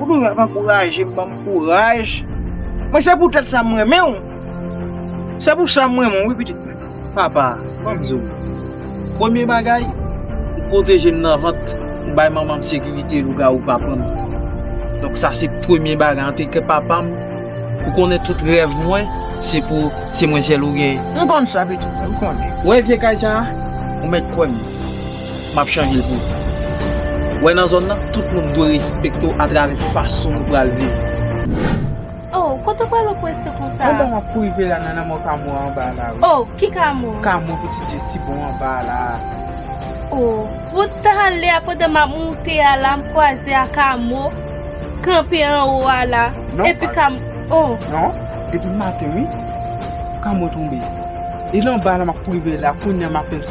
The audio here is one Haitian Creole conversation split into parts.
Ou toujou ap ankouraje m, ban m kouraj. Mwen se pou tèt sa m renmen w. Se pou sa m renmen w wi pitit mwen. Papa, ban m di w. Premye bagay, ou pwoteje m nan vant. Ou bay manman m sekirite lougawou pa pran m. Donk sa se premye bagay. Antanke papa m, ou konnen tout rèv mwen, se pou se mwen sèl ou gen. M konn sa pitit mwen, m konnen. Ou wè vye kay sa a? Ou mèt kwè m. map chanje l pou ou. Ou wè nan zòn nan, tout moun dwe respekte w atravè fason nou pral viv. Oh, kote w pral ou prese konsa? Anba map kou rive la nan lanmò Kamo a anba a la wi. Oh, ki Kamo? Kamo pitit Jessie bon anba a la a. Oh, wout talè a pandan map moute a la m kwaze a Kamo kanpe anwo a la. Non, pa. Epi Kamo, oh. Non, depi maten wi Kamo tonbe. E l anba a la map kou rive la, kounya m apenn.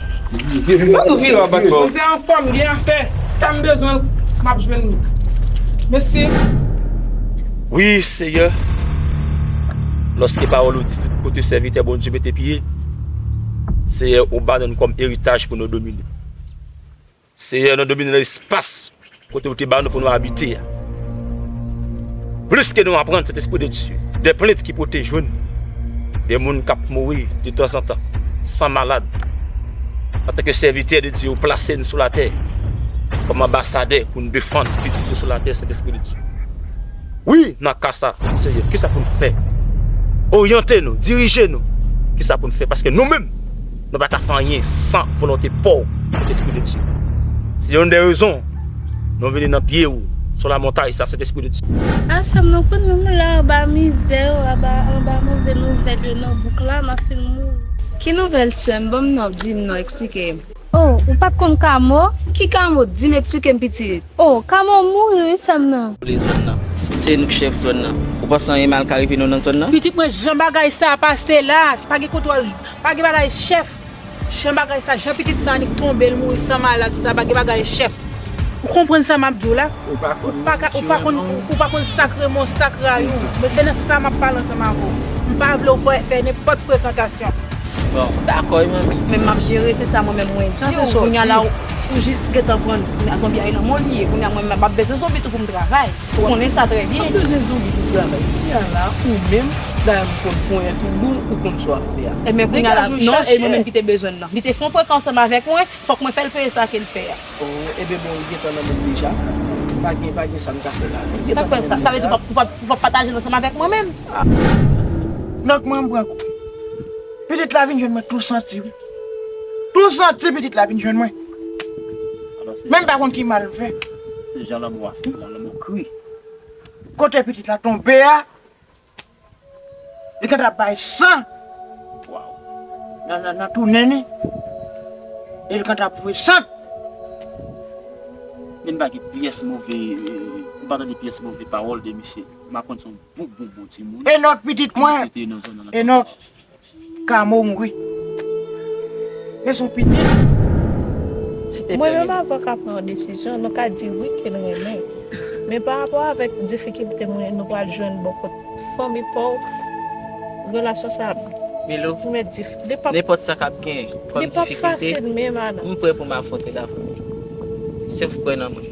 Mwen se anfòm, m gen afè, sa m bezwen m ap jwenn li. Mesi. Wi Seyè, lòske pawòl ou di tout kote sèvitè Bondye mete pye, Seyè ou ba nou li kòm eritaj pou nou domine. Seyè, nou domine nan espas kote ou te ba nou pou nou abite a. Plis ke nou aprann, Sentespri de Dye, de plent ki pote jwenn de moun k ap mouri de tanzantan, san malad, antanke sèvitè de Dye, ou plase n sou latè kòm anbasadè pou n defann pitit ou sou latè, Sentespri de Dye. Wi, nan ka sa, Seyè, kisa pou n fè? Oryante nou, dirije nou, kisa pou n fè? Paske nou menm. Nou pa ka fè anyen san volonte paw Espri de Dieu. Se youn de rezon Nou vini nan pye ou sou la montay sa Sent Espri de Dieu. Ah sèm nan konnen mwen la anba mizè yo aba anba move nouvèl yo nan bouk la map fin mouri. Ki nouvèl sèm banm non dim non eksplikem. Oh ou pat konn kamo? Ki kamo dim eksplikem pitit. Oh kamo mouri wi sèm nan. Vle zòn nan. Se nou k chèf zòn nan. Ou panse anyen mal ka rive nou nan zòn nan? Pitit mwen jan bagay sa pase la se pa gen kontwòl. Pa gen bagay chèf Jan bagay sa Jan pitit sa annik tonbe l mouri san malad sa pa gen bagay chèf Ou konprann sa map di w la Ou pa konn ni kichiremon w Ou pa konn sak remon w sak rayi w Men se nan sa map pale ansanm avè w M pa vle w fè nenpòt frekantasyon Bon m dakò wi manmi Men map jere se sa mwen menm mwen di w Kounya la ou jis gentan pran Zonbi a e lanmò li ye Kounya mwen menm map bezwen zonbi tou pou m travay Ou konnen sa trè byen. M bezwen zanmi pou travay. Kounya la ou menm bagay m konn ponyèt ou bon ou konn sa w ap fè a. Ebyen kounya la non e mwen menm ki te bezwen l lan. Li te fon prank ansanm avèk mwen fòk mwen fè l peye sa ke l fè a. Oh ebyen bon li gentan nan menm deja pa gen pa gen sa m ka fè la. Li gentan nan menm deja. Sa vle di ou pa ou pa pataje l ansanm avèk mwen menm? Lòt mwen m pran kou. Petèt la vin jwenn mwen tou santi wi. Tou jan ti pitit la vin jwenn mwen. Men m pa konn ki mal m fè. Se jan lanmou a fèt la, lanmou kri. Kote pitit la tonbe a, li gentan bay san nan tou nen li, e li gentan voye sant. Men m pa gen pyès move, m pa tande pyès move pawòl de misye. M aprann se yon bon bon bon timoun. Enòk pitit mwen, Enòk. Camo mouri men son pitit si te Mwen menm avèw ka pran yon desizyon nou ka di wi ke n renmen men pa rapò avèk difikilte mwen nou pral jwenn bò kot fanmi paw relasyon sa ap Milou ti mèt dif li pap nenpòt sa kap gen kòm li pap difikilte fasil menm a m prè pou m afwontel avèw si w kwè nan mwen.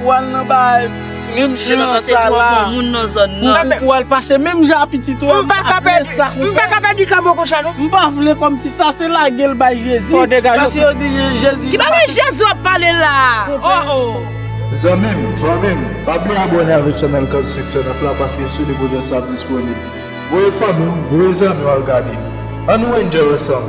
Pou al nan bay menm jan ak sa la. Pou al pase menm jan ak pitit ou an. M pa ka pèdi ka bon konsa non. M pa vle kòm si sa se lage l bay Jezi. Paske yo di Jezi. Ki bagay Jezi ap pale la a oh oh. Zanmi m, fanmi m, pa bliye abòne avèk chanèl Kaz Succès 9 la paske sou li pwojè sa ap disponib. Voye fanmi w, voye zanmi w al gade. An nou enjoy ansanm!